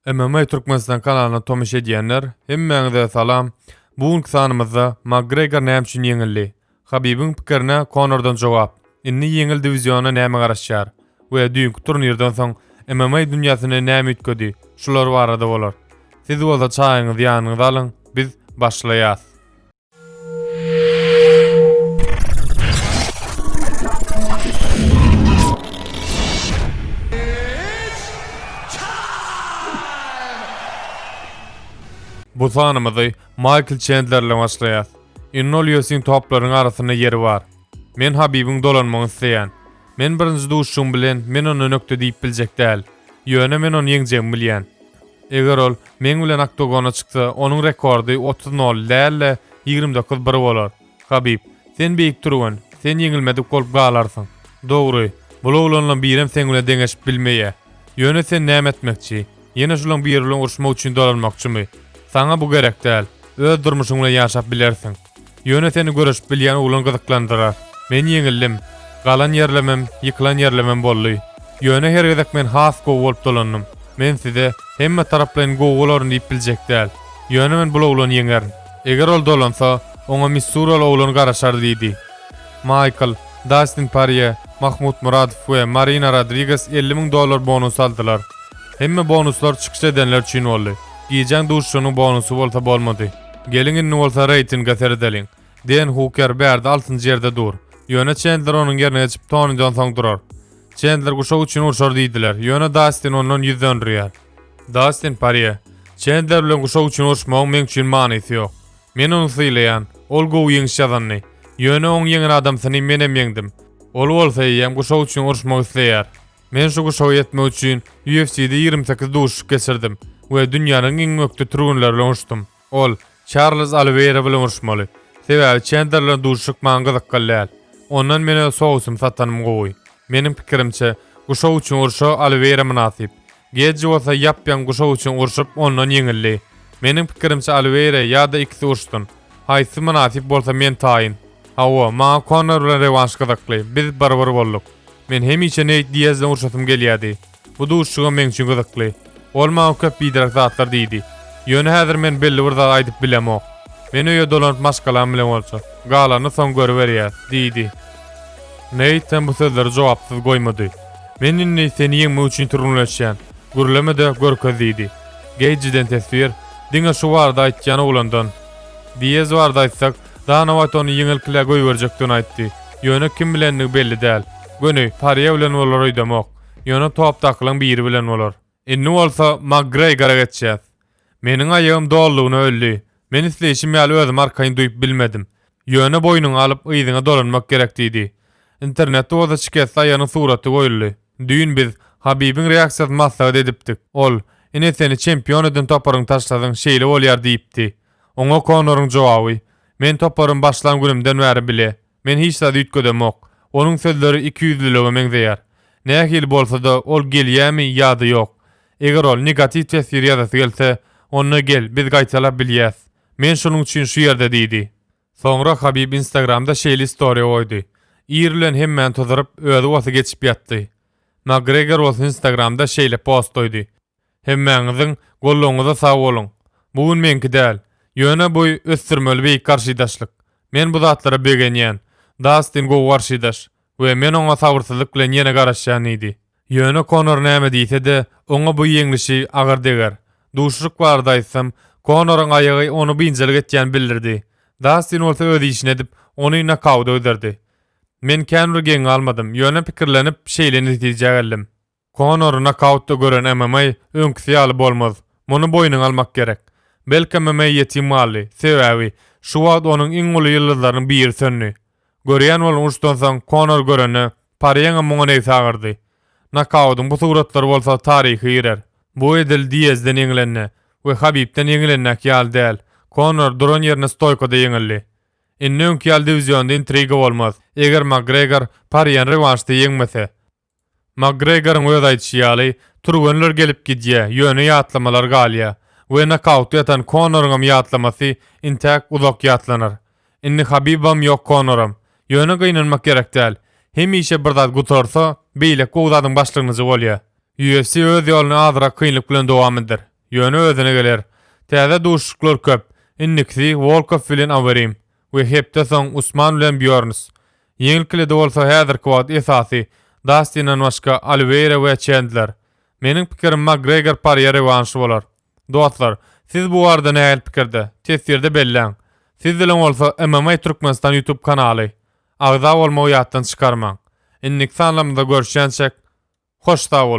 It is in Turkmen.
MMA Türkmenistan kanalyna tomuş edýänler, hemmäňize salam! Bu günki sanymyzda Makgregor näme üçin ýeňildi? Habibiň pikirine Konordan jogap, indi ýeňil diwiziona näme garaşýar we düýnki turnirden soň MMA dünýäsine näme üýtgedi, şular barada bolar. Siz bolsa çaýyňyzy ýanyňyza alyň, biz başlaýas! Bu sanymyzy Maýkl Çendlerle başlaýar. Innolýusiň toplaryň arasynda ýeri bar. Men Habibiň dolanmagyny isleýän. Men birinji duşuşygym bilen men ony nökde diýip biljek däl. Ýöne men ony ýeňjegimi bilýän. Eger ol meň bilen oktogona çyksa, onuň rekordy otuz nol däl-de, ýigrimi dokuz bir bolar. Habib, sen beýik türgen, sen ýeňilmedik bolup galarsyň. Dogry, bul oglanlaň birem seň bilen deňeşip bilmeýär. Ýöne sen näme etmekçi? Ýene şulaň biri bilen uruşmak üçin dolanmakçymy? Saňa bu gerek däl. Öz durmuşyň bilen ýaşap bilersiň. Ýöne seni göreşip bilýän oglan gyzyklandyrar. Men ýeňildim. Galan ýerlemem, ýykylan ýerlemem boldy. Ýöne her gezek men has gowy bolup dolandym. Men size, hemme taraplaýyn gowy bolaryn diýip biljek däl. Ýöne men bul oglany ýeňerin. Eger ol dolansa, oňa missuraly oglan garaşar, diýdi. Maýkl, Dastin Parýe, Mahmut Muradow we Marina Rodriges elli müň dollar bonusy aldylar. Hemme bonuslar çykyş edenler üçin boldy. Gijäň duşuşygynyň bonusy bolsa bolmady. Geliň indi bolsa reýtinge seredeliň. Den Huker bärde altynjy ýerde dur. Ýöne Çendler onuň ýerine geçip Toni dan soň durar. Çendler guşak üçin urşar diýdiler, ýöne Dastin ondan ýüz dönrýär. Dastin Parýe, Çendler bilen guşak üçin uruşmagyň meň üçin manysy ýok. Men ony sylaýan, ol gowy ýeňiş ýazandy. Ýöne oň ýeňen adamsyny menem ýeňdim. Ol bolsa eýýäm guşak üçin uruşmak isleýär. Men şu guşagy etmek üçin UFC-de ýigrimi sekiz duşuşyk geçirdim we dünýäniň iň ökde türgenleri bilen uruşdym. Ol Çarlz Oliweýra bilen uruşmaly. Sebäbi Çendler bilen duşuşyk maňa gyzykly däl. Ondan men öz sowusymy satanym gowy. Meniň pikirimçe, guşak üçin urşa Oliweýra mynasyp. Geji bolsa ýap-ýaňy guşak üçin urşup, ondan ýeňildi. Meniň pikirimçe Oliweýra ýa-da ikisi urşsun. Haýsy mynasyp bolsa men taýyn. Hawa, maňa Konor bilen rewanş gyzykly, biz bir-bir bolduk. Men hemişe Neýt Diaz bilen urşasym gelýärdi. Bu duşuşygam meň üçin gyzykly. Ol maňa köp biderek zatlar diýdi. Ýöne häzir men belli bir zat aýdyp bilemok. Men öýe dolanyp maşgalam bilen bolsa, galanyny soň görüberýäs, diýdi. Neýt hem bu sözleri jogapsyz goýmady. Men indi seni ýeňmek üçin türgenleşýän. Gürleme-de, görkez, diýdi. Geýjiden teswir, Diňe şu barada aýtýan oglandan. Diaz barada aýtsak, Danawat ony ýeňilkilä goýberjekdigini aýtdy. Ýöne kim bilendigi belli däl. Göni, Pariýe bilen bolar öýdemok. Ýöne topdakylaň biri bilen bolar. Indi bolsa Makgreýgora geçýäs. Meniň aýagym dolulygyna öldi. Men isleýşim ýaly özümi arkaýyn duýup bilmedim. Ýöne boýnuňy alyp, yzyňa dolanmak gerek diýdi. Internetde bolsa şikesli aýagynyň suraty goýuldy. Düýn biz Habibiň reaksiýasyny maslahat edipdik. Ol, Ine seni çempion eden toparyňy taşlasaň şeýle bolýar diýipdi. Oňa Konoryň jogaby, Men toparym başlan günümden bäri bile, men hiç zat üýtgedemok. Onuň sözleri ikiýüzlülige meňzeýär. Nähili bolsa-da, ol gelýärmi ýa-da ýok? Eger ol negatiw testir ýazasy gelse, onda gel, biz gaýtalap bilýäs. Men şonuň üçin şu ýerde diýdi. Soňra Habib Instagramda şeýle istoriýa goýdy. Ir bilen hemmäni tuzuryp, özi bolsa geçip ýatdy. Makgregor bolsa Instagramda şeýle post goýdy. Hemmäňiziň gollaryňyza sag boluň. Bu gün meňki däl. Ýöne boý ösdürmeli beýik garşydaşlyk. Men bu zatlara begenýän. Dastin gowy garşydaş we men oňa sabyrsyzlyk bilen ýene garaşýan diýdi. Ýöne Konor näme diýse-de, oňa bu ýeňlişi agyr deger. Duşuşyk barada aýtsam, Konoryň aýagy ony biynjalyk etýän bildirdi. Dastin bolsa öz işini edip, ony nokauta gidrdi. Men kän bir geň galmadym, ýöne pikirlenip, şeýle netijä geldim. Konory nokautda gören MMA öňküsi ýaly bolmaz. Muny boýnuňa almak gerek. Belki MMA ýetim galdy, sebäbi şu wagt onuň iň uly ýyldyzlarynyň biri söndi. Görýän boluň uruşdan soň Konor görende Parýeňem muňa nebsi agyrdy. Nokaudyň bu suratlary bolsa taryha girer. Bu edil Diezden ýeňilende we Habibden ýeňilendäki ýaly däl. Konor duran ýerinde stoýkada ýeňildi. Indi öňki ýaly diwizionda intriga bolmaz. Eger Makgregor Parýeni rewanşda ýeňmese. Makgregoryň öz aýdyşy ýaly, türgenler gelip gidýär, ýöne ýatlamalar galýar we nokautda ýatan Konoryňam ýatlamasy intäk uzak ýatlanar. Indi Habibam ýok Konoram. Ýöne gynanmak gerek däl. Hemişe bir zat gutarsa, beýleki gowy zadyň başlangyjy bolýar. UFC öz ýoluny azyrak kynlyk bilen dowam eder. Ýöne özüne geler. Täze duşuşyklar köp. Indikisi Wolkow bilen Overeem. we hepde soň Usman bilen Býorns. Ýeňilkilede bolsa häzirki wagt esasy Dastinden başga Oliweýra we Çendler. Meniň pikirim Makgregor Porýe rewanşy bolar. Dostlar, siz bu barada nähili pikirde? Teswirde belläň. Siz bilen bolsa MMA Türkmenistan YouTube kanaly. Agza bolmagy ýatdan çykarmaň. Indiki sanlarymyzda görüşýänçäk. Hoş sag boluň.